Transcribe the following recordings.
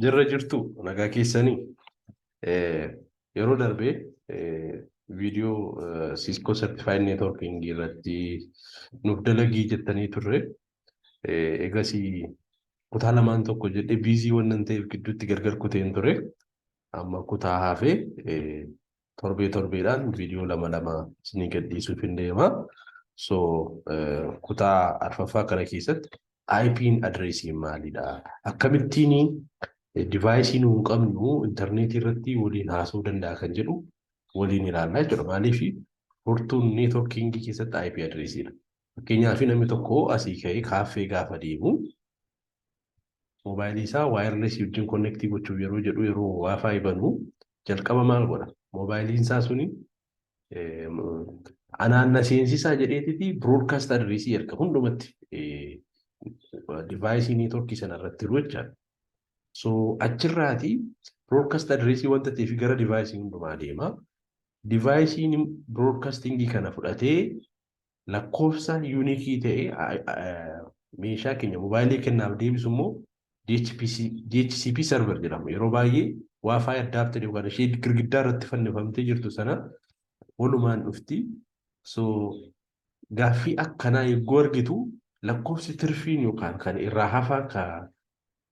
Jirra jirtu nagaa keessanii yeroo darbee viidiyoo Cisco Certified Networking irratti nuuf dalagii jettanii turre. Egas kutaa lamaan tokko jedhee biizii waan ta'eef gidduutti gargar kuteen ture. Amma kutaa hafee torbee torbeedhaan viidiyoo lama lama isinii gadhiisuuf hin deema. So kutaa arfaffaa kana keessatti IPn adireesii maalidha? Akkamittiin divaayisii nu hin qabnu intarneetii irratti waliin haasa'uu danda'a kan jedhu waliin ilaallaa jechuudha. Maaliif furtuun neetworkiingii keessatti IP adireesiidha. Fakkeenyaaf namni tokko asii ka'ee kaaffee gaafa deemu Moobaayilii isaa waayirlesii wajjin konnektii gochuuf yeroo jedhu yeroo waafaa ibanu jalqaba maal godha? Moobaayiliin isaa suni anaan na seensisaa jedheetiti broadcast adreesii erga hundumatti divaayisii neetworkii sana irratti jiru jechaadha. So achirraati broadcast adreesii wanta ta'eef gara divaayisii hundumaa deema. Divaayisiin broadcastingii kana fudhatee lakkoofsa yuunikii ta'e meeshaa keenya mobaayilii kennaaf deebisu immoo DHPC, DHCP server jedhama. Yeroo baay'ee waafaayi addaapteri yookaan ishee girgiddaa irratti fannifamtee jirtu sana walumaan dhufti. So gaaffii akkanaa yogguu argitu lakkoofsi tirfiin yookaan kan irraa hafaa ka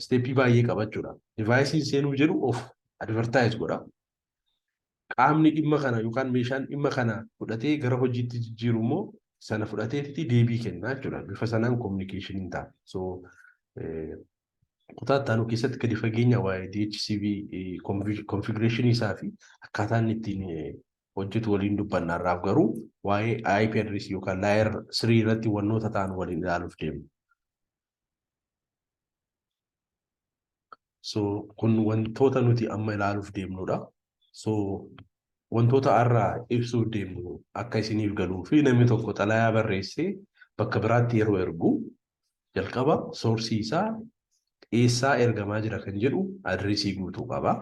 isteeppii baay'ee qaba jechuudha. Divaayisiin seenuu jedhu of advertaayiz godha. Qaamni dhimma kana yookaan meeshaan dhimma kana fudhatee gara hojiitti jijjiiru immoo sana fudhateetti deebii kenna jechuudha. Bifa sanaan kominikeeshiniin ta'a. So kutaa ittaanu keessatti gadi fageenya waa'ee DHCV konfigureeshinii isaa fi akkaataa inni ittiin hojjetu waliin dubbanna irraaf garuu waa'ee IP address yookaan layer 3 irratti wannoota ta'an waliin ilaaluuf deemna. So kun wantoota nuti amma ilaaluuf deemnudha. So wantoota har'a ibsuuf deemnu akka isiniif galuu fi namni tokko xalayaa barreessee bakka biraatti yeroo ergu jalqaba soorsii isaa eessaa ergamaa jira kan jedhu adireesii guutuu qaba.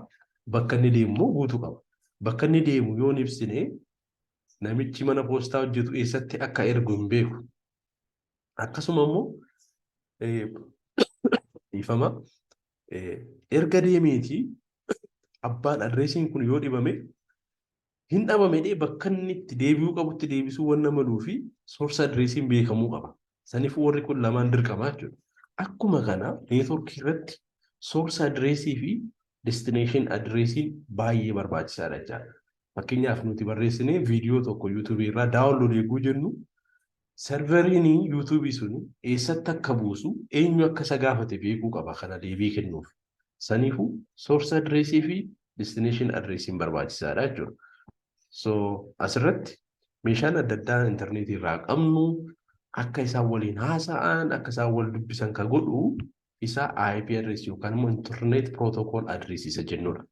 Bakka inni deemu immoo guutuu qaba. Bakka inni deemu yoo hin ibsine namichi mana poostaa hojjetu eessatti akka ergu hin beeku. Akkasuma immoo dhiifama erga deemeetii abbaan adreesiin kun yoo dhibame hin dhabame dhee bakka inni itti deebi'uu qabutti deebisuu wanna maluu fi source adreesiin beekamuu qaba. Saniif warri kun lamaan dirqamaa jechuudha. Akkuma kana neetworkii irratti source adreesii fi destination adreesiin baay'ee barbaachisaadha jechaadha. Fakkeenyaaf nuti barreessinee viidiyoo tokko yuutuubii irraa daawunlood eeguu jennu Serveriin YouTube sun eessatti akka buusu eenyu akka isa gaafate beekuu qaba kana deebii kennuuf. Saniifuu source address fi destination address barbaachisaadha jechuudha. So asirratti meeshaan adda addaa intarneetii irraa qabnu akka isaan waliin haasa'an akka isaan wal dubbisan ka godhu isa IP address yookaan immoo internet protocol address isa jennudha.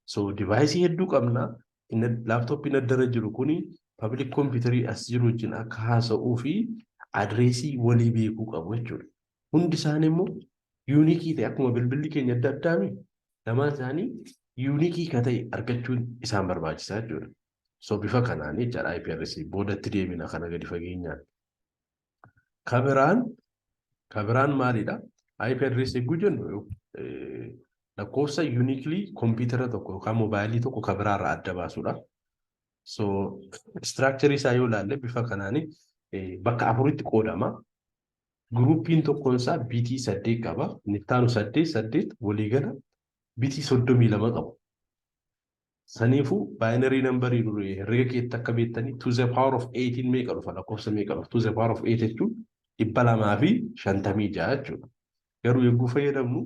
So device hedduu qabna laaptooppiin addara jiru kun public computerii as jiru wajjin akka haasa'uu fi adireesii walii beekuu qabu jechuudha. Hundi isaanii immoo yuunikii ta'e akkuma bilbilli keenya adda addaami lamaan isaanii yuunikii ka ta'e argachuun isaan barbaachisaa jechuudha. So bifa kanaan jechaadha IPRC boodatti deemina kana gadi fageenyaan. Ka biraan ka biraan maalidha? IP address eeguu jennu lakkoofsa uniquely kompiitara tokko yookaan moobaayilii tokko ka biraa irraa adda baasudha. So structure isaa yoo ilaalle bifa kanaan bakka afuritti qoodama. Guruupiin tokkoon isaa bitii saddeet qaba. Inni itti aanu saddeet saddeet waliigala bitii soddomii lama qabu. Saniifuu baayinarii nambarii duri herrega keetti akka beektanii to the power of 8 meeqa dhufa lakkoofsa meeqa dhufa to the power of 8 jechuun dhibba lamaa fi shantamii ja'a jechuudha. Garuu yogguu fayyadamnu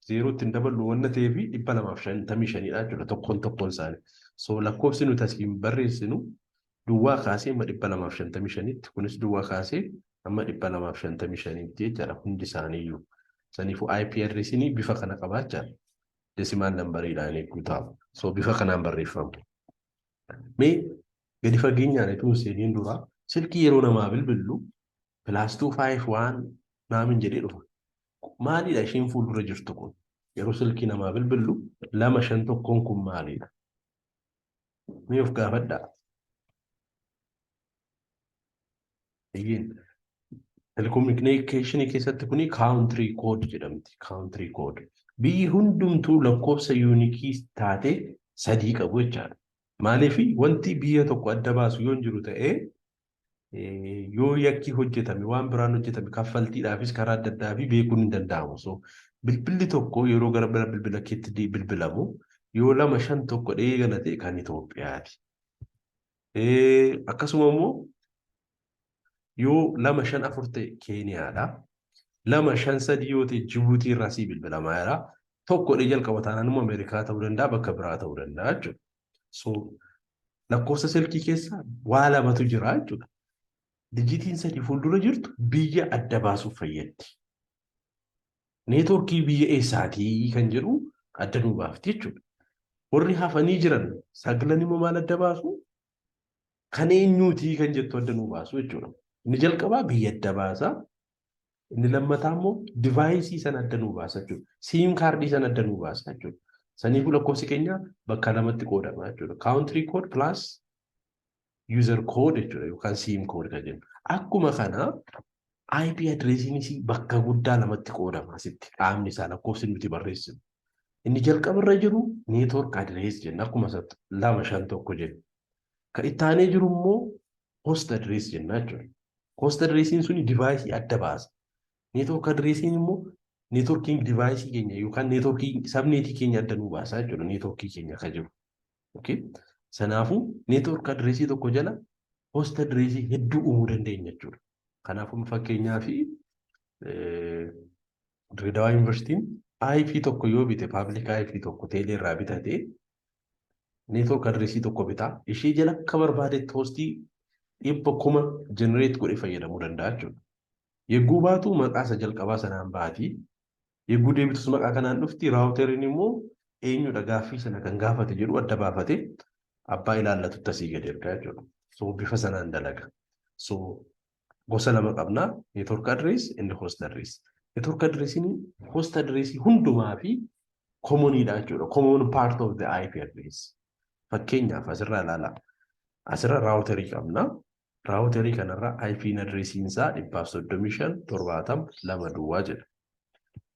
zeerootti hin daballu wanna ta'ee fi dhibba lamaaf shantamii shaniidha jechuudha tokkoon tokkoon isaanii. So lakkoofsi nuti asiin barreessinu duwwaa kaasee amma dhibba lamaaf shantamii shaniitti kunis duwwaa kaasee amma dhibba lamaaf shantamii shaniitti jechaadha hundi isaaniiyyuu. Saniifuu IPRSin bifa kana qabaa jechaadha. desimaal nambariidhaan eeguu ta'a. So bifa kanaan barreeffamu. Mee gadi fageenyaan ituu hin seeniin dura silkii yeroo namaa bilbillu pilaas tuu faayif waan naamin jedhee dhufa. Maalidha isheen fuuldura jirtu kun? Yeroo silkii namaa bilbillu lama shan tokkoon kun maalidha? Mee of gaafadhaa. Eeyyeen. Telekominikeeshinii keessatti kuni kaawuntirii kood jedhamti. Kaawuntirii kood. Biyyi hundumtuu lakkoofsa yuunikii taate sadii qabu jechaadha. Maaliif wanti biyya tokko adda baasu yoo hin jiru ta'ee yoo yakki hojjetame waan biraan hojjetame kaffaltiidhaafis karaa adda addaa fi beekuun hin danda'amu. So bilbilli tokko yeroo gara bira bilbila keetti di- bilbilamu yoo lama shan tokko dhee gala ta'e kan Itoophiyaati. Eh, Akkasuma immoo yoo lama shan afur ta'e Keeniyaadha. Lama shan sadii yoo ta'e Jibuutii irraa sii bilbilamaa jira. Tokko dhee jalqaba taanaan immoo Ameerikaa ta'uu danda'a bakka biraa ta'uu danda'a jechuudha. So lakkoofsa silkii keessa waa lamatu jira jechuudha. Dijitiin sadii fuuldura jirtu biyya adda baasuuf fayyaddi. Neetwoorkii biyya eessaatii kan jedhu adda nuu baafti jechuudha. Warri hafanii jiran saglan immoo maal adda baasu? Kan eenyuutii kan jettu adda nuu baasu jechuudha. Inni jalqabaa biyya adda baasaa, Inni lammataa immoo divaayisii sana adda nuu baasa jechuudha. Siim kaardii sana adda nuu baasa jechuudha. Saniifuu lakkoofsi keenya bakka lamatti qoodama jechuudha. Kaawuntirii kood pilaas yuuzar kood jechuudha yookaan siim kood kan jennu. Akkuma kana IP adireesiinis bakka guddaa lamatti qoodama asitti qaamni isaa lakkoofsi nuti barreessinu. Inni jalqaba irra jiru neetwoork adirees jenna akkuma lama shan tokko jenna. Kan itti aanee jiru immoo host address jennaa jechuudha. Host addressiin suni divaayisii adda baasa. Network addressiin immoo networking divaayisii keenya yookaan networking sabneetii keenya adda nuu baasaa jechuudha networkii keenya akka jiru. Okay. Sanaafuu network addressii tokko jala host addressii hedduu uumuu dandeenya jechuudha. Kanaafuu fakkeenyaa fi Dirreedawaa Yuunivarsiitiin IP tokko yoo bite paabilik IP tokko teelee irraa bitate network addressii tokko bitaa ishii jala akka barbaadetti hoostii dhibba kuma generate godhe fayyadamuu danda'a jechuudha. Yegguu baatu maqaa isa jalqabaa sanaan baati. Yegguu deebitus maqaa kanaan dhufti raawuteriin immoo eenyudha gaaffii sana kan gaafate jedhu adda baafate abbaa ilaallatutti asii gadi ergaa jechuudha. So bifa sanaan dalaga. So gosa lama qabna network address and host address network address ni host address hundumaa fi common dha jechuudha common part of the IP address fakkeenyaaf asirraa ilaala asirra router qabna router kanarra IP address isaa 135 70 2 duwwaa jedha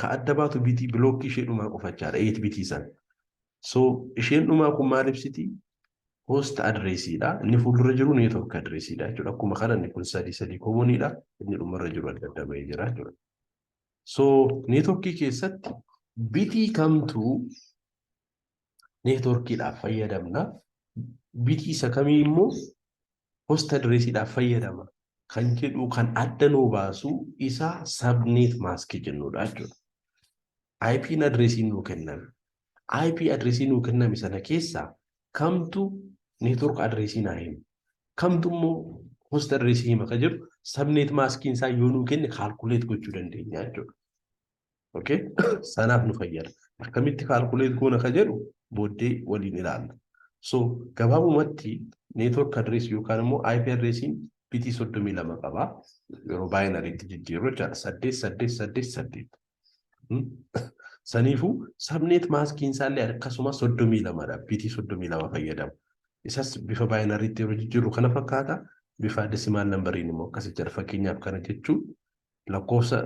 Ka adda baatu bitii bilookkii ishee dhumaa qofa jechaadha. 8 bitii san. So isheen dhumaa kun maal ibsiti? Host adreesiidha. Inni fuuldura jiru network adreesiidha jechuudha. Akkuma kana inni kun sadii sadii koomoniidha. Inni dhumarra jiru adda adda bahee jira jechuudha. So networkii keessatti bitii kamtu neetworkiidhaaf fayyadamna. Bitii isa kamii immoo hosta direesiidhaaf fayyadama kan jedhu kan adda nuu baasu isa sabneet maaskii jennudha jechuudha. IPn adireesii nuu kenname. IP adireesii nuu kenname sana keessaa kamtu neetwork adireesii naa himu. Kamtu immoo hosta adireesii hima kan jedhu sabneet maaskiin isaa yoo nuu kenne kaalkuleet gochuu dandeenya jechuudha. Okay? Sanaaf nu fayyada. Akkamitti kaalkuleet goona ka jedhu booddee waliin ilaalla. So gabaabumatti network address yookaan immoo IP addressiin bitii soddomii lama qaba. Yeroo baayinariitti jijjiirru jechaadha. Saddeet saddeet saddeet saddeet. Saniifuu sabneet maaskiin isaallee akkasuma soddomii lamadha. Bitii soddomii lama fayyadamu. Isas bifa baayinariitti yeroo jijjiirru kana fakkaata. Bifa desimaal nambariin immoo akkasii jira. Fakkeenyaaf kana jechuun lakkoofsa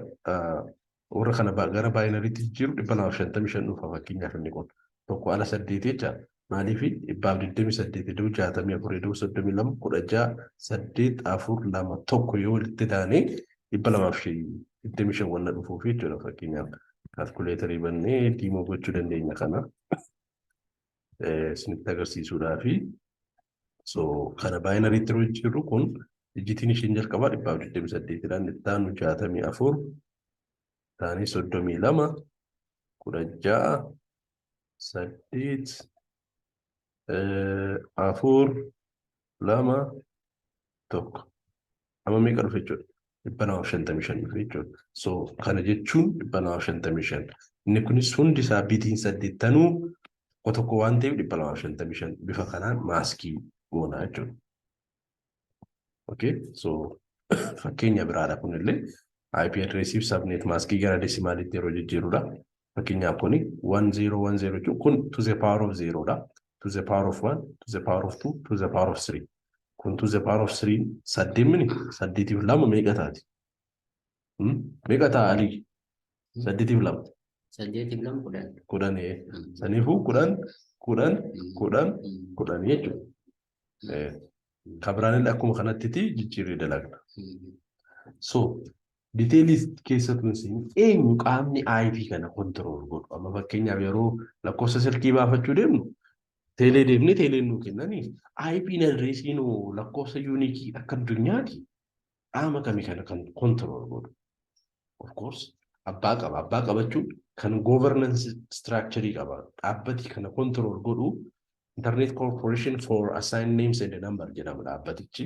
warra kana gara baayinariitti jijjiiru dhibba lamaaf shantamii shan dhufa fakkeenyaaf inni kun tokko ala saddeeti jecha maaliif dhibbaaf digdamii saddeet iddoo jaatamii afur iddoo soddomii lama kudha ja'a saddeet afur lama tokko yoo walitti daanee dhibba lamaaf digdamii shan wanna dhufuuf jechuudha fakkeenyaaf kaalkuleetarii bannee diimoo gochuu dandeenya kana. isinitti agarsiisuudhaafi. So kana baayinariitti yeroo jijjiirru kun ijjitiin isheen jalqabaa dhibbaaf digdamii saddeetidha. Inni itti aanu jaatamii afur, itti aanee soddomii lama, kudha ja'a, saddeet, afur, lama tokko amma meeqa dhufe jechuudha dhibba lamaaf shantamii shan dhufe jechuudha so kana jechuun dhibba lamaaf shantamii shan inni kunis hundi isaa bitiin saddeettanuu tokko tokko waan ta'eef dhibba lamaaf shantamii shan bifa kanaan maaskii goona jechuudha. Okay, so fakkeenya biraadha kunillee IP address fi subnet maaskii gara desimaalitti yeroo jijjiirudha. Fakkeenyaaf kuni 1010 jechuun kun to the power of 0 dha. To the power of 1, to the power of 2, to the power of 3. Kun to the power of 3 saddeemmini saddeetiif lama meeqa taati? Meeqa ta'a alii? Saddeetiif lama. Saddeetiif lama kudhan. Kudhan saniifuu kudhan kudhan kudhan kudhan jechuudha. kabiraanillee akkuma kanattiti jijjiirree dalagna. So diteelii keessa tun siin eenyu qaamni IP kana kontirool godhu amma fakkeenyaaf yeroo lakkoofsa silkii baafachuu deemnu teelee deemnee teeleen nuu kennaniif IP adreesiin lakkoofsa yuunikii akka addunyaati qaama kami kana kan control godhu of course abbaa qaba abbaa qabachuun kan governance structure qaba dhaabbati kana control godhu internet corporation for assigned names and number jedhama dhaabbatichi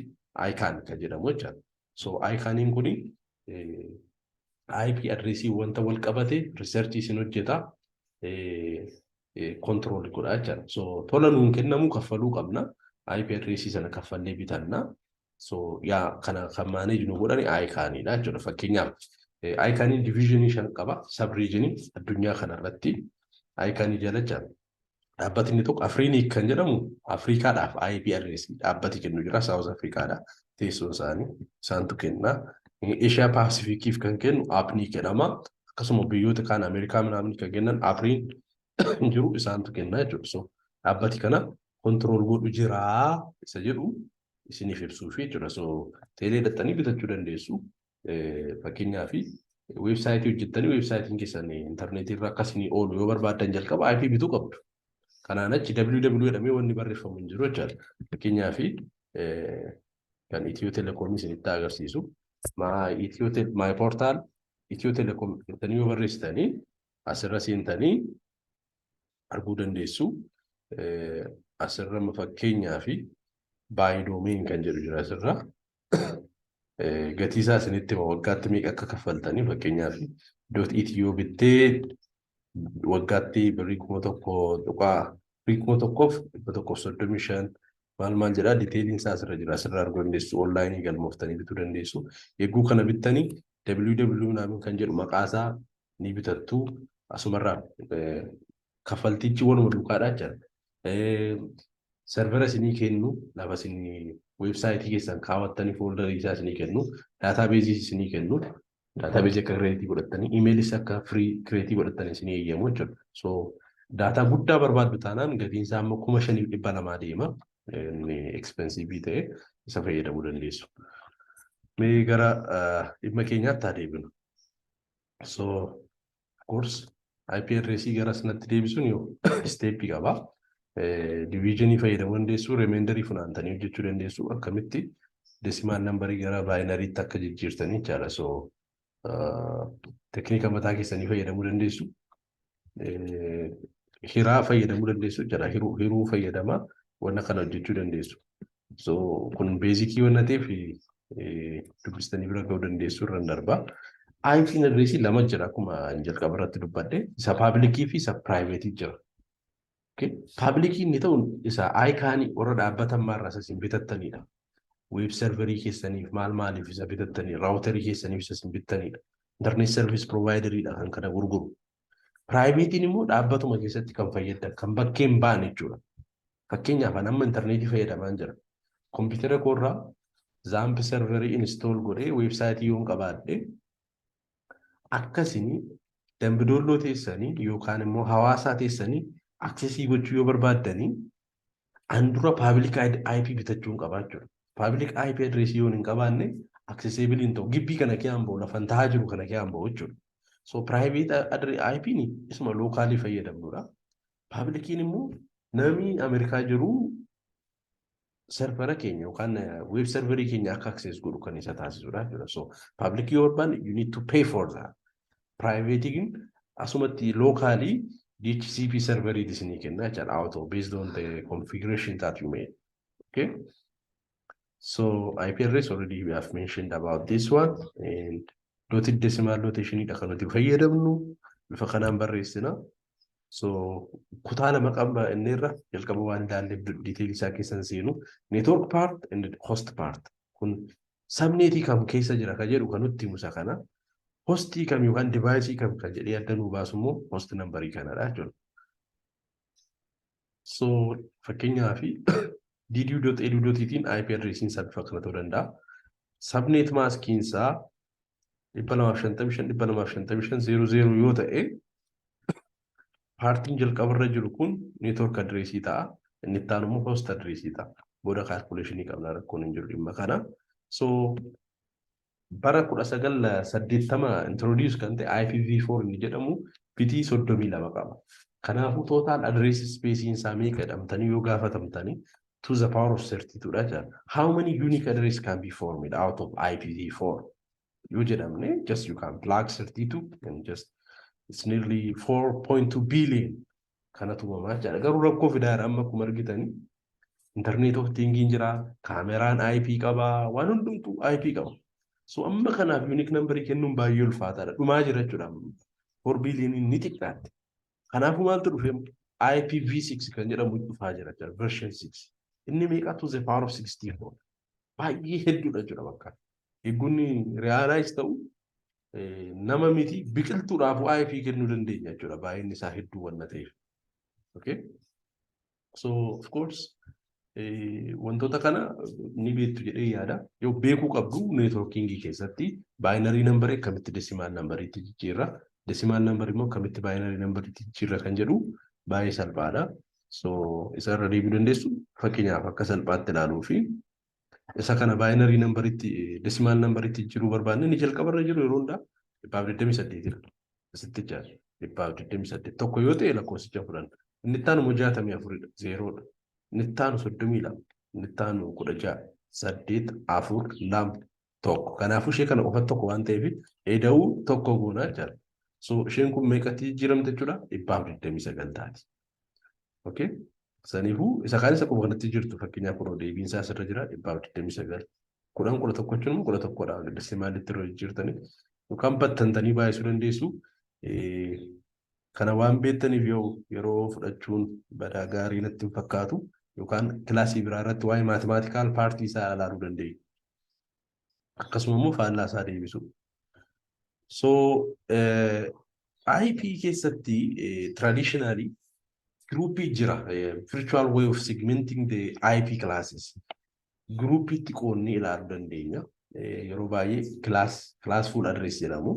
ICANN kan jedhamu jechaadha so ICANNiin kun IP adressii wanta wal qabate research isin hojjeta control godha jechaadha so tola nuun kennamu kaffaluu qabna IP adressii sana kaffallee bitanna So yaa kana kan maaneeji nu godhani ayikaaniidha jechuudha. Fakkeenyaaf ayikaaniin diviizhinii shan qaba. Sabriijinii addunyaa kanarratti ayikaanii jalacha dhaabbati inni tokko Afriiniik kan jedhamu Afriikaadhaaf IP adreessi dhaabbati kennu jira. Saawuz Afriikaadha teessoon isaanii isaantu kenna. Eeshiyaa Paasifikiif kan kennu Apnii jedhama. Akkasuma biyyoota kaan Ameerikaa manaamni kan kennan Afriin jiru isaantu kenna jechuudha. So dhaabbati kana kontirool godhu jira isa jedhu isiniif ibsuufi jechuudha. So teelee dhaxxanii bitachuu dandeessu. Fakkeenyaaf weebsaayitii hojjettanii weebsaayitiin keessan intarneetii irra akka isinii oolu yoo barbaaddan jalqaba IP bituu qabdu. Kanaan achi www jedhamee wanni barreeffamu hin jiru jechaadha. Fakkeenyaaf kan Itiyoo Telekoomii isinitti agarsiisu. My portal Itiyoo Telekoom jettanii yoo barreessitanii asirra seentanii arguu dandeessu. Asirra fakkeenyaa fi baayidoomiin kan jedhu jira asirra. Gatii isaa isinitti hima waggaatti meeqa akka kaffaltanii fakkeenyaa fi doot itiyoo bittee waggaatti birrii kuma tokko tuqaa birrii kuma tokkoof dhibba tokkoof soddomii shan maal maal jedhaa diteeliin isaa asirra jira asirra arguu dandeessu onlaayinii galmooftanii bituu dandeessu eeguu kana bittanii www naamin kan jedhu maqaa isaa ni bitattu asumarraa kaffaltichi waluma duukaadhaa jira. Servera isinii kennu lafa isin weebsaayitii keessan kaawwattanii fooldarii isaa isinii kennu daataabeezii isinii kennu daataabeezii akka kireetii godhattanii imeelis akka firii kireetii godhattanii isinii eeyyamu jechuudha. So daataa guddaa barbaaddu taanaan gatiin isaa amma kuma shaniif dhibba lamaa deema. Inni ekspensiivii ta'e isa fayyadamuu dandeessu. Mee gara dhimma keenyaatti haa deebinu. so of course IP address gara sanatti deebisuun yoo steepii qaba. Diviizhinii fayyadamuu dandeessu, remeendarii funaantanii hojjechuu dandeessu akkamitti desimaal nambarii gara baayinariitti akka jijjiirtanii jechaadha. So teeknika mataa keessanii fayyadamuu dandeessu. hiraa fayyadamuu dandeessu jira hiruu hiruu fayyadama wanna kana hojjechuu dandeessu so kun beezikii wanna ta'eef dubbistanii bira ga'uu dandeessu irra darba IP adreesii lama jira akkuma jalqaba irratti dubbadde isa paabilikii fi isa piraayiveetii jira Paablikii inni ta'uun isa ayikaanii warra dhaabbatan maarraas isin bitattanidha. Weeb serverii keessaniif maal maaliif isa bitattanii raawutarii keessaniif isa isin bittanidha. Internet service provideridha kan kana gurguru. Piraayiveetiin immoo dhaabbatuma keessatti kan fayyaddan kan bakkee hin baane jechuudha. Fakkeenyaaf an amma intarneetii fayyadamaan jira. Kompiitara koorraa zaamp serverii install godhee weebsaayitii yoon qabaadhe Akkasiin Dambi Doolloo teessanii yookaan immoo Hawaasaa teessanii aksesii gochuu yoo barbaaddanii an dura paabilik IP bitachuun qabaa jechuudha. Paabilik IP adireesii yoon hin qabaanne akseseebil hin ta'u. Gibbii kana kee hamba'u lafan tahaa jiru kana kee hamba'u jechuudha. So piraayiveet IP ni isuma lookaalii fayyadamnudha. Paabilikiin immoo namni Ameerikaa jiru servera keenya yookaan web serverii keenya akka access godhu kan isa taasisudha jechuudha. So public yoo barbaanne you need to pay for that. Private gin asumatti locally DHCP serverii isinii kenna jechuudha auto based on the configuration that you made. Okay. So IP address already we have mentioned about this one and dotted decimal notation dha kan nuti fayyadamnu bifa kanaan barreessina. So kutaa lama qaba inni irra jalqaba waan ilaalleef detail isaa keessan seenu network part and host part kun sabneetii kam keessa jira ka jedhu kan nutti musa kana hostii kam yookaan divaayisii kam kan jedhee adda nuu baasu immoo host nambarii kanadha jechuudha. So fakkeenyaaf diidiyuu.eduu.itiin IP adreesiin isaa bifa kana ta'uu danda'a. Sabneet maaskiin isaa 255,255,00 yoo ta'e paartiin jalqabarra jiru kun neetwork adreesii ta'a. Inni itti aanu immoo host adreesii ta'a. Booda kaalkuleeshinii qabna rakkoon hin jiru dhimma kana. So bara 1980 introduce kan ta'e IPv4 inni jedhamu bitii 32 qaba. Kanaafuu total address space isaa meeqa jedhamtanii yoo gaafatamtanii to the power of 32 dha jedhan. How many unique address can be formed out of IPv4? Yoo jedhamne just you can plug 32 and just it's nearly 4.2 billion kanatu uumamaa jechaadha. Garuu rakkoo fidaara amma akkuma argitani internet of thinking jira, kaameraan IP qaba, waan hundumtuu IP qaba. So amma kanaaf unique number kennuun baay'ee ulfaataadha. Dhumaa jira jechuudha. Four billion ni xiqqaatti. Kanaafuu maaltu dhufee IPv6 kan jedhamu dhufaa jira jechuudha. Version 6. Inni meeqa to the power of 64. Baay'ee hedduudha jechuudha bakka. Eegonni realize ta'u nama miti biqiltuudhaaf bu'aa ifii kennuu dandeenya jechuudha baay'inni isaa hedduu waan ta'eef. Okay? So of course wantoota kana ni beektu jedhee yaada. Yoo beekuu qabdu neetworkiingii keessatti baayinarii nambarii akkamitti desimaal nambariitti jijjiirra. Desimaal nambarii immoo akkamitti baayinarii nambariitti jijjiirra kan jedhu baay'ee salphaadha. So isarra deebi'uu dandeessu fakkeenyaaf akka salphaatti ilaaluu fi isa kana baayinarii nambaritti desimaal nambaritti jijjiiruu barbaanne inni jalqaba irra jiru yeroo hundaa dhibbaaf 28 jira. Asitti jira dhibbaaf 28 tokko yoo ta'e lakkoofsicha fudhanna. Inni itti aanu immoo 64 dha zeeroodha. Inni itti aanu 32 inni itti aanu 16 saddeet afur lama tokko kanaafuu ishee kana qofa tokko waan ta'eef eda'uu tokko goonaa jira. So isheen kun meeqatti jijjiiramte jechuudha dhibbaaf 29 taati. Okay. Saniifuu isa kaan isa akkuma kanatti jirtu fakkeenyaaf kunoo deebiin isaa asirra jira dhibbaaf digdamii sagal. Kudhan kudha tokko jechuun immoo kudha tokkodha. Gaddassee maalitti irra jijjiirtanii yookaan battantanii baay'isuu dandeessu. Kana waan beektaniif yoo yeroo fudhachuun badaa gaarii natti hin fakkaatu yookaan kilaasii biraa irratti waa'ee maatimaatikaal paartii isaa ilaaluu dandeenya. akkasuma immoo faallaa isaa deebisuu. So eh, IP keessatti eh, traditionally groupii jira eh, virtual way of segmenting the IP classes. Groupiitti qoonnee ilaaluu dandeenya. Eh, yeroo baay'ee class class full address jedhamu.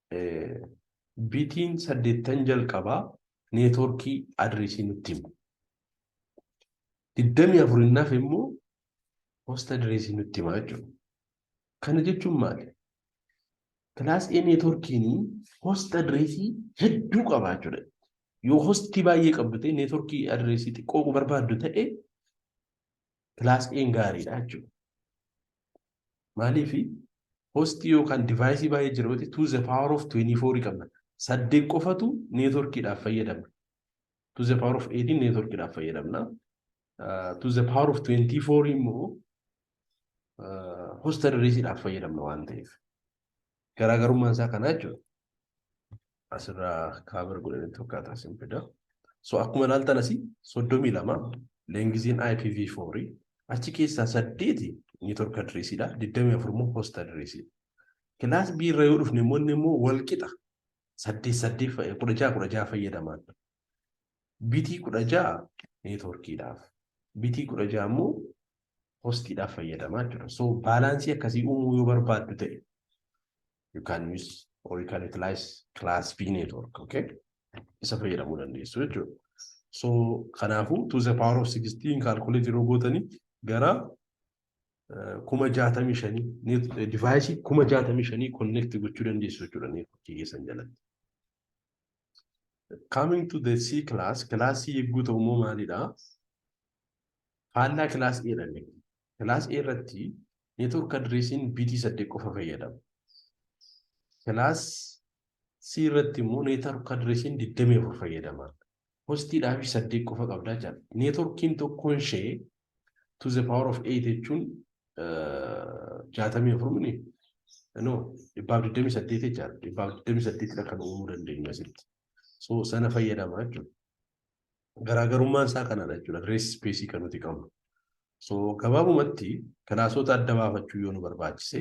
bitiin saddeettan jalqabaa neetworkii adireesii nutti himu. Digdamii afurinnaaf immoo hosta adireesii nutti himaa jechuudha. Kana jechuun maali? Kilaas A neetworkiin hosta adireesii hedduu qaba jechuudha. Yoo hosti baay'ee qabdu ta'e neetworkii adireesii xiqqoo barbaaddu ta'e Plus A'n gaariidha jechuudha. Maaliif hosti yookaan divaayisii baay'ee jira yoo ta'e to the power of 24 qabna. Saddeet qofatu neetworkiidhaaf fayyadamna. To the power of 18 neetworkiidhaaf fayyadamna. Uh, to the power of 24 immoo uh, hosta dirreesiidhaaf fayyadamna waan ta'eef. Garaagarummaan isaa kanaa jechuudha. Asirraa kaabar godhanii tokkaataa sin fida. So akkuma ilaaltan asii soddomii lama leengiziin IPv4 achi keessaa saddeeti network adreesiidha. Digdamii afur immoo host adreesiidha. Kilaas B irra yoo dhufne immoo inni immoo wal qixa saddeet saddeet fa'i- kudha jaha kudha jaha fayyadamaan. Bitii 16 neetworkiidhaaf, bitii 16 immoo hostiidhaaf fayyadamaa jechuudha. So baalaansii akkasii uumuu yoo barbaaddu ta'e you can use or you can utilize class B network, okay? Isa fayyadamuu dandeessu jechuudha. So kanaafuu to the power of 16 calculate yeroo gootanii gara kuma jaatamii shanii divaayisii kuma jaatamii shanii konneekti gochuu dandeessu jechuudha neetworkii keessan jalatti. Coming to the C class, class C yegguu ta'u immoo maalidha? Faallaa class A dha inni. Class A irratti network addressiin BT 8 qofa fayyadama. Class C irratti immoo network addressiin 24 fayyadama. Hostii dhaafii saddeet qofa qabdaa jechaan. Neetworkiin tokkoon ishee to the power of 8 jechuun jaatamii afur mini no dhibbaaf digdamii saddeet jechaan dhibbaaf digdamii saddeetidha kan uumuu dandeenyu asitti. So sana fayyadama jechuudha. Garaagarummaan isaa kanadha jechuudha. Rees ispeesii kan nuti qabnu. So gabaabumatti kilaasoota adda baafachuu yoo nu barbaachise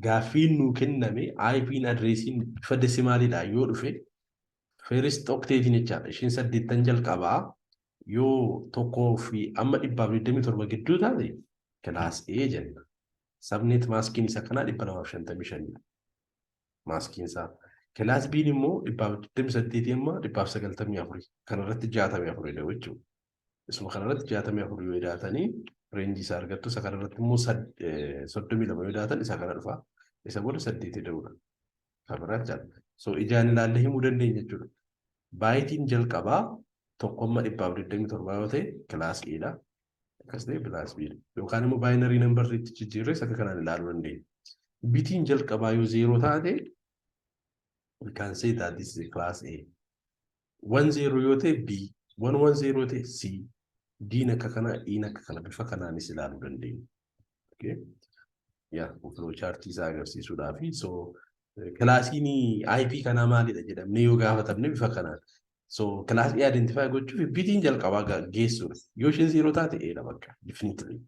gaaffiin nuu kenname IPn adreesiin bifa desimaaliidhaan yoo dhufe first octeetiin jechaadha. Ishiin saddeettan jalqabaa yoo tokkoo fi amma dhibbaaf digdamii torba gidduu taate kilaas A jenna. Sabneet maaskiin isa kanaa dhibba lamaaf shantamii shanidha. Maaskiin isaa. Kilaas B'n immoo dhibbaaf digdamii saddeetii amma dhibbaaf sagaltamii afurii. Kanarratti jaatamii afuridha jechuudha. Isuma kanarratti 64 yoo idaatanii reenjii isaa argattu isa kanarratti immoo 32 yoo idaatan isa kana dhufa. Isa booda 8 ida'uudha. Kan biraa jechaadha. So ijaan ilaallee himuu dandeenya jechuudha. Baayitiin jalqabaa tokkomma dhibbaaf 27 yoo ta'e kilaas E dha. Akkas ta'e kilaas B dha. Yookaan immoo baayinarii nambarriitti jijjiirree isa kanaan ilaaluu dandeenya. Bitiin jalqabaa yoo zeeroo taate we can say that this is a class A. 1 0 yoo ta'e B 1 1 0 ta'e C D'n akka kanaa E'n akka kana bifa kanaanis ilaaluu dandeenya. Okay. Yaa flow chart isaa agarsiisuudhaa fi so kilaasiin IP kanaa maalidha jedhamnee yoo gaafatamne bifa kanaan. So kilaasii identify gochuuf bitiin jalqabaa geessuudha. Yoo isheen 0 taate E'dha bakka definitely.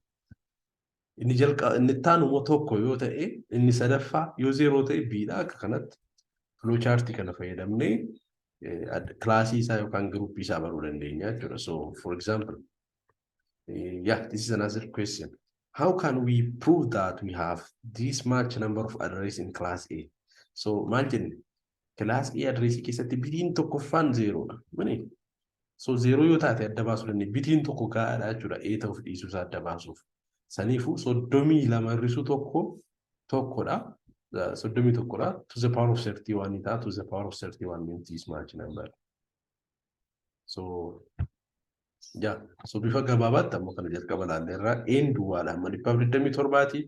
Inni jalqaba inni itti aanu immoo tokko yoo ta'e inni sadaffaa yoo zeeroo ta'e biidha akka kanatti filoo chaartii kana fayyadamnee kilaasii isaa yookaan giruuppii isaa baruu dandeenya jechuudha. So for example, yeah, this is another question. How can we prove that we have this much number of arrays in class A? So maal jenne Kilaas A adreesii keessatti bitiin tokkoffaan zeeroodha. Mani? So zeeroo yoo taate adda baasuu dandeenya. Bitiin tokko gahaadha jechuudha. A ta'uuf dhiisuu isaa adda baasuuf. Saniifuu soddomii lama hir'isuu tokko tokkodha. Soddomii tokkodha. To the power of 31 ta'a. To the power of 31 means this much number. So, yaa, so bifa gabaabaatti ammoo kana jalqaba ilaallee irraa een duwwaadha amma dhibbaaf digdamii torbaati.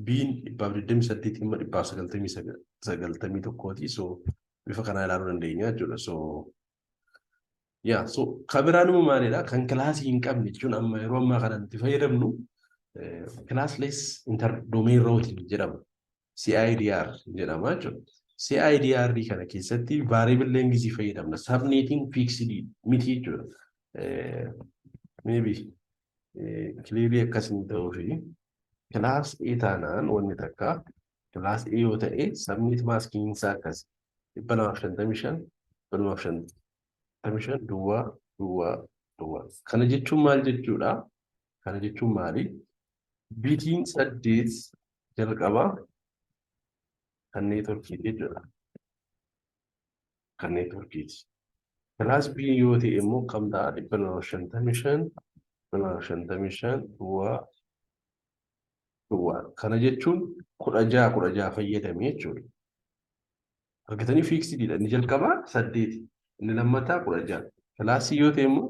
Biin dhibbaaf digdamii saddeeti amma dhibbaaf sagaltamii sagal- sagaltamii tokkooti. So bifa kanaa ilaaluu dandeenya jechuudha. So yaa so kan biraan immoo maalidha? Kan kilaasii hin qabne jechuun amma yeroo ammaa kana nuti fayyadamnu classless inter domain routing jedhama. CIDR jedhama jechuudha. CIDR kana keessatti variable length fayyadamna. Subnetting fixed miti jechuudha. Maybe clearly akkas hin ta'uu fi class A taanaan wanni takka class A yoo ta'e subnet masking isaa akkas 255 255 duwwaa duwwaa duwwaa. Kana jechuun maal jechuudha? Kana jechuun maali? Bitiin saddeet jalqabaa kan neetworkii jechuudha. Kan neetworkiiti. Kilaas B yoo ta'e immoo kam ta'a dhibba lama shantamii shan dhibba lama shantamii shan duwwaa duwwaa. Kana jechuun kudha jaha kudha jaha fayyadame jechuudha. Argatanii fiiksidiidha. Inni jalqabaa saddeeti. Inni lammataa kudha jaha. Kilaasii yoo ta'e immoo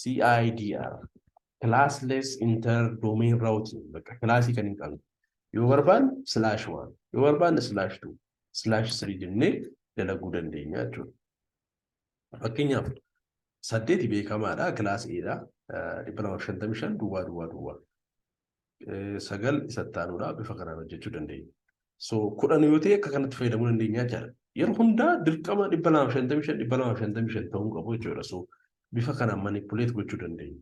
CIDR classless inter domain routing bakka kilaasii kan hin qabne yoo barbaanne slash one yoo barbaanne slash two slash three jennee dalaguu dandeenya jechuudha. Fakkeenyaaf saddeeti beekamaadha kilaas eedha dhibba lama shantamii shan duwwaa duwwaa duwwaa. sagal isa itti aanuudha bifa kanaan hojjechuu dandeenya. So kudhan yoo ta'e akka kanatti fayyadamuu dandeenya jechaadha. Yeroo hundaa dirqama dhibba lama shantamii shan dhibba lama shantamii shan ta'uu qabu jechuudha. So bifa kanaan manipuleet gochuu dandeenya.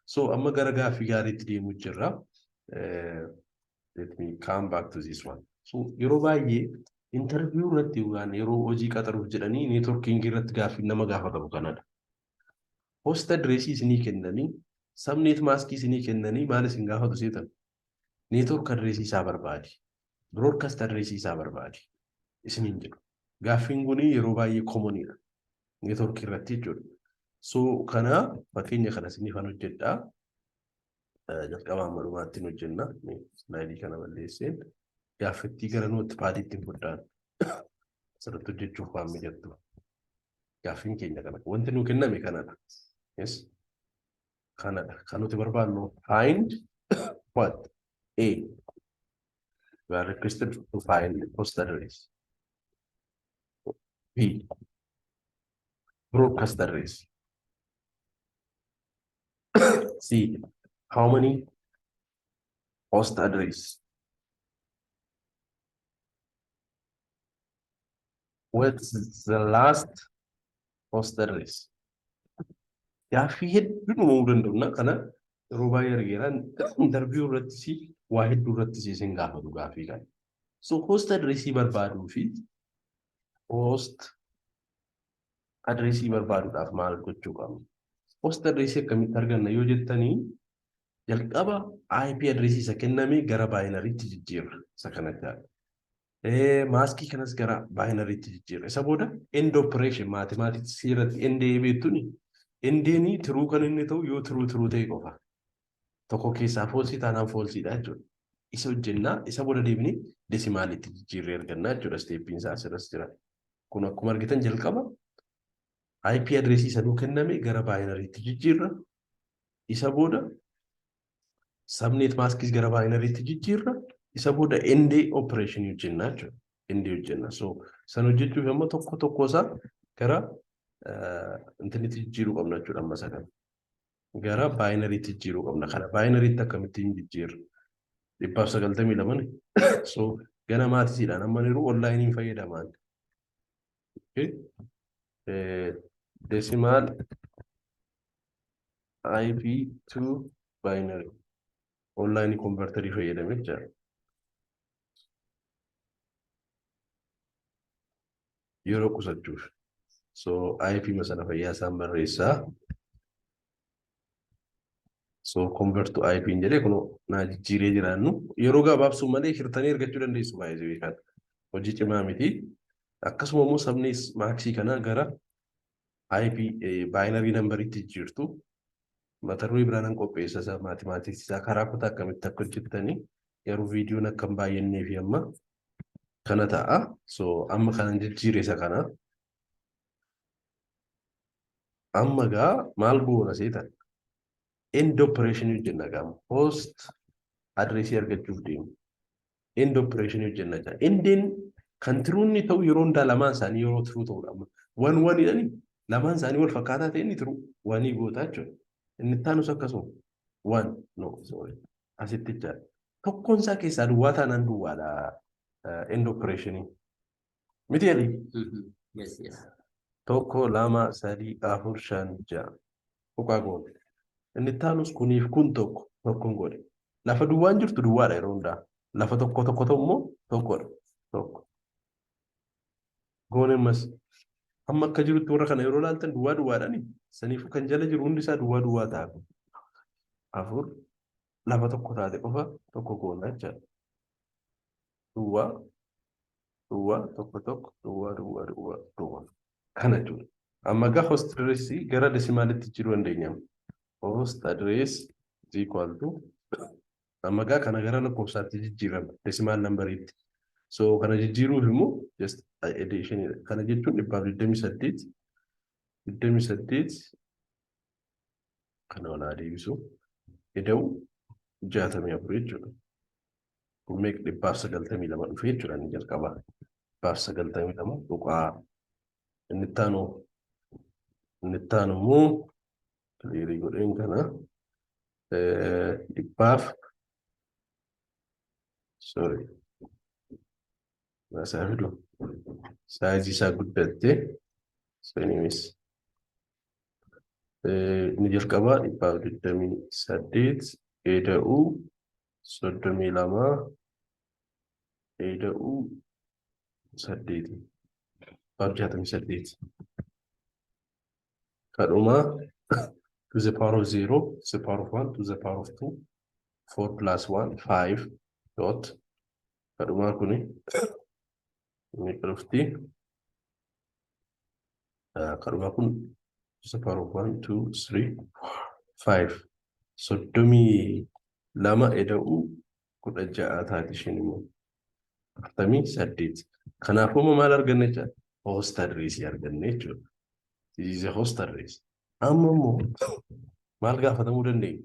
So amma gara gaaffii gaariitti deemuu jirra. Let me come back to this one. So yeroo baay'ee interview irratti yookaan yeroo hojii qaxaruuf jedhanii networking irratti gaaffii nama gaafatamu kanadha. host address isinii kennanii subnet mask isinii kennanii maal isin gaafatu seetan network address isaa barbaadi broadcast address isaa barbaadi isiniin jedhu gaaffiin kun yeroo baay'ee komonidha network irratti jechuudha so kana fakkeenya kana isiniif an hojjedhaa jalqabaa amma dhumaattiin hojjenna slaayidii kana balleesseen gaaffittii gara nootpaadiitti hin fudhaan asirratti hojjechuuf waan mijattu Gaaffiin keenya kana. Wanti nuu kenname kanadha. Yes. Kanadha. Kan nuti barbaannu find what? A. We are requested to find the post address. B. Broadcast address. C. How many host address what's the last host address gaaffii hedduun uumamuu danda'u kana yeroo baay'ee argeeraan interview irratti si waa hedduu irratti si isin gaafatu gaaffii kana so host address barbaaduu fi host address barbaaduudhaaf maal gochuu qabna host address akkamitti arganna yoo jettanii jalqaba IP address isa kenname gara baayinariitti jijjiirra isa kana jaala. Maaskii kanas gara baayinariitti jijjiirra. Isa booda end operation maatimaatiksii irratti end beektuni endeenii tiruu kan inni ta'u yoo tiruu tiruu ta'e qofa. Tokko keessaa foolsii taanaan foolsiidha jechuudha. Isa hojjennaa isa booda deebinee desimaalitti jijjiirree argannaa jechuudha. Isteeppiin isaa asirras jira. Kun akkuma argitan jalqaba IP address isa nuu kenname gara baayinariitti jijjiirra. Isa booda subnet maskis gara baayinariitti jijjiirra. Isa booda ND operation hojjennaa jechuudha. ND hojjenna. So san hojjechuuf amma tokko tokko isaa gara intinitti jijjiiruu qabna jechuudha amma isa kana. Gara baayinariitti jijjiiruu qabna. Kana baayinariitti akkamittiin jijjiirra? Dhibbaaf sagaltamii lamani. So ganamaatisidhaan amma yeroo onlaayiniin fayyadamaan. Decimal IP to binary online converter fayyadamee jira. Yeroo qusachuuf. So IP masana fayyaa isaan barreessaa. So convert to IP hin jedhee kunoo naa jijjiiree jiraannu yeroo gabaabsuu malee hirtanii argachuu dandeessu baay'ee jibii kana. Hojii cimaa miti. Akkasuma immoo sabni maaksii kanaa gara IP baayinarii nambariitti jijjiirtu. Mata duree biraa nan qopheessa isaa maatimaatiksii isaa karaa kutaa akkamitti akka hojjettanii garuu viidiyoon akka hin baay'annee fi amma kana ta'a. So amma kanan jijjiire isa kana. Amma gaa maal goona seetan? End operation hojjenna gaa host adreesii argachuuf deemu. End operation hojjenna gaa. Endeen kan tiruu inni ta'u yeroo hundaa lamaan isaanii yeroo tiruu ta'udha. Amma wan wan jedhani lamaan isaanii wal fakkaataa ta'e inni tiruu wanii gootaa jechuudha. Inni itti aanus akkasuma wan no sorry asitti jira. Tokkoon isaa keessaa duwwaa taanaan duwwaadha end operation. Miti jedhi. Mhm. Yes, yes. Tokko, lama, sadii, afur, shan, ja'a. Tuqaa goone. Inni itti aanus kuniif kun tokko tokkon goone. Lafa duwwaan jirtu duwwaadha yeroo hundaa. Lafa tokko tokko ta'u immoo tokkodha. Tokko. Goone ammas. Amma akka jirutti warra kana yeroo ilaaltan duwwaa duwwaadhani. Saniifuu kan jala jiru hundi isaa duwwaa duwwaa ta'a. Afur. Lafa tokko taate qofa tokko goona jechaadha. duwwaa duwwaa tokko tokko duwwaa duwwaa duwwaa duwwaa kana jechuudha. Amma egaa host address gara desimaalitti jijjiiruu dandeenya. Host address is equal to amma egaa kana gara lakkoofsaatti jijjiirama desimaal nambariitti. So kana jijjiiruuf immoo just addition kana jechuun dhibbaaf digdamii saddeet digdamii saddeet kana olaa deebisu ida'u jaatamii afur jechuudha. meeq dhibbaaf sagaltamii lama dhufe jechuudha inni jalqaba dhibbaaf sagaltamii lama tuqaa inni ittaanu inni ittaanu immoo kiliirii godheen kana dhibbaaf sorry naasaa fidu saayizii isaa guddatte saniinis inni jalqabaa dhibbaaf digdamii saddeet eda'uu soddomii lama ida'uu saddeeti baaf jaatamii saddeeti kadhuma to the power of zero to the power of one to the power of two four plus one five dot kadhumaa kuni ni dhufti. Kadhuma kun isa power of one, two, three, four, five. Soddomii lama eda'uu kudha ja'a taati isheen immoo. Afurtamii saddeet. Kanaafuu immoo maal arganne jecha? Host address arganne jechuudha. This is a host address. Amma immoo maal gaafatamuu dandeenya?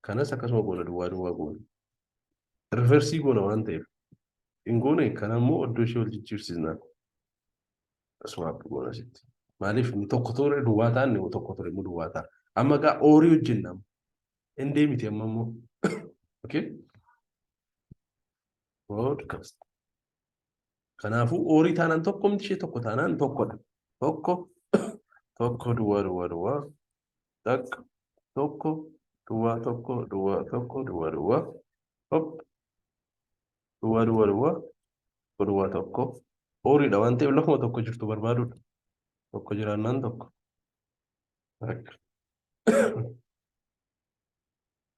Kanas akkasuma goona duwwaa duwwaa goona. Riversii goona waan ta'eef. Hin goone kana immoo iddoo ishee wal jijjiirsisna. Swap goona sitti. Maaliif inni tokko ture duwwaa ta'a inni tokko ture immoo duwwaa ta'a. Amma egaa oorii hojjenna. Hin deemiti amma immoo. Okay. Podcast. Kanaafuu oorii taanaan tokko miti ishee tokko taanaan tokkodha. Tokko tokko duwwaa duwwaa duwwaa Takka, tokko, duwwaa tokko, duwwaa tokko, duwwaa duwwaa. Hop. Duwwaa duwwaa duwwaa. Tokko duwwaa tokko. Ooriidha waan ta'eef lafuma tokko jirtu barbaaduudha. Tokko jiraannaan tokko. Takka.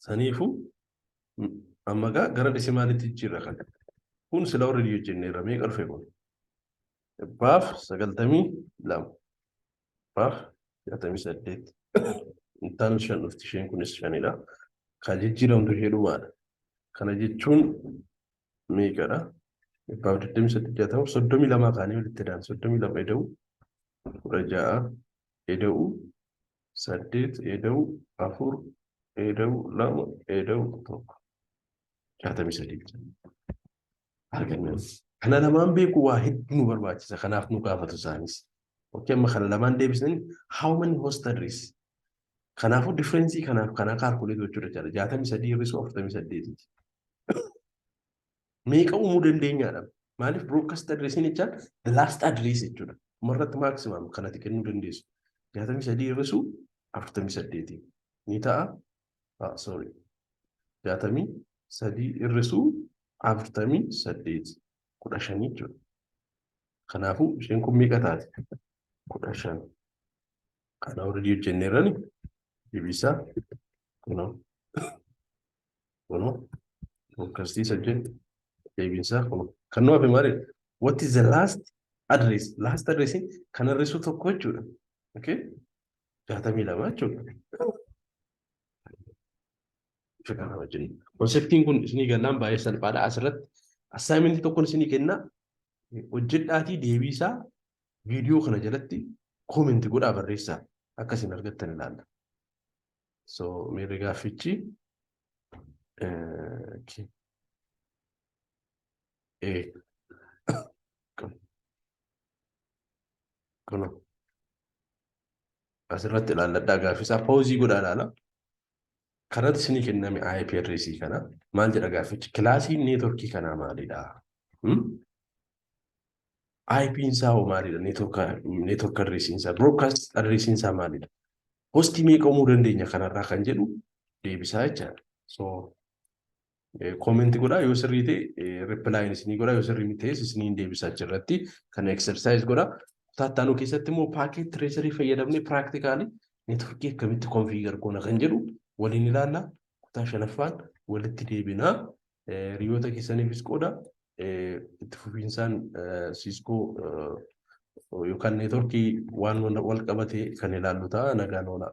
Saniifuu m- amma gaa gara dhisimaalitti jijjiirra kan. Kun sila warri hojjenneerra meeqa dhufe kun? Dhibbaaf sagaltamii lama. Baar jaatamii saddeet. Intaan shan dhufti isheen kunis shanidha. Kan jijjiiramtu ishee dhumaadha. Kana jechuun meeqadha? Dhibbaaf digdamii saddeet jaatama soddomii lamaa kaanii walitti daan soddomii lama eda'u kudha ja'a eda'u saddeet eda'u afur eda'u lama eda'u tokko jaatamii sadii. arganna. Kana lamaan beekuu waa hedduu nu barbaachisa. Kanaaf nu gaafatu isaanis. Okkee amma kana lamaan deebisneen how many host address? Kanaafuu differeensii kanaaf kana kaalkuleetii gochuu danda'a. Jaatamii sadii hir'isuu afurtamii saddeetiiti. Meeqa uumuu dandeenyaadha? Maaliif broadcast addressiin jechaan the last address jechuudha. Dhumarratti maximum kanatti kennuu dandeessu. Jaatamii sadii hir'isuu afurtamii saddeetii ni ta'a. ah, sorry jaatamii sadii hir'isuu afurtamii saddeet kudha shan jechuudha. Kanaafuu isheen kun meeqa taate? kudha shan. Kana hordii hojjennee irrani deebisaa kunoo kunoo fokkasiisa jenna deebisaa kunoo kan nu hafe maali? What is the last address? Last address kan hir'isuu tokko jechuudha. Okay? jaatamii lama jechuudha. Bifa kana wajjin. Konseptiin kun isinii gannaan baay'ee salphaadha. Asirratti assaayimentii tokkoon isinii kenna. Hojjedhaatii deebii isaa viidiyoo kana jalatti koomenti godhaa barreessaa akka isin argattan ilaalla. So miirri gaaffichi eh, okay. eh, Kunoo. Asirratti ilaalladhaa gaaffisaa pauzii godhaa ilaala. Kanatti isinii kenname IPRC kana maal jedha gaaffichi? Kilaasiin neetworkii kanaa maalidha? Hmm? IPn isaa hoo maalidha? Neetwork adreesiin isaa, broadcast adreesiin isaa maalidha? Hostii meeqa uumuu dandeenya kanarraa kan jedhu deebisaa jechaadha. So Comment godhaa yoo sirrii ta'e reply isinii godhaa yoo sirrii miti ta'es isiniin deebisa achirratti kana exercise godhaa. Taattaanuu keessatti immoo packet tracery fayyadamnee practically networkii akkamitti configure goona kan jedhu waliin ilaalla. Kutaa shanaffaan walitti deebinaa hiriyoota keessaniifis qooda itti fufiinsaan Cisco yookaan networkii waan wal qabate kan ilaallu ta'a nagaan oolaa.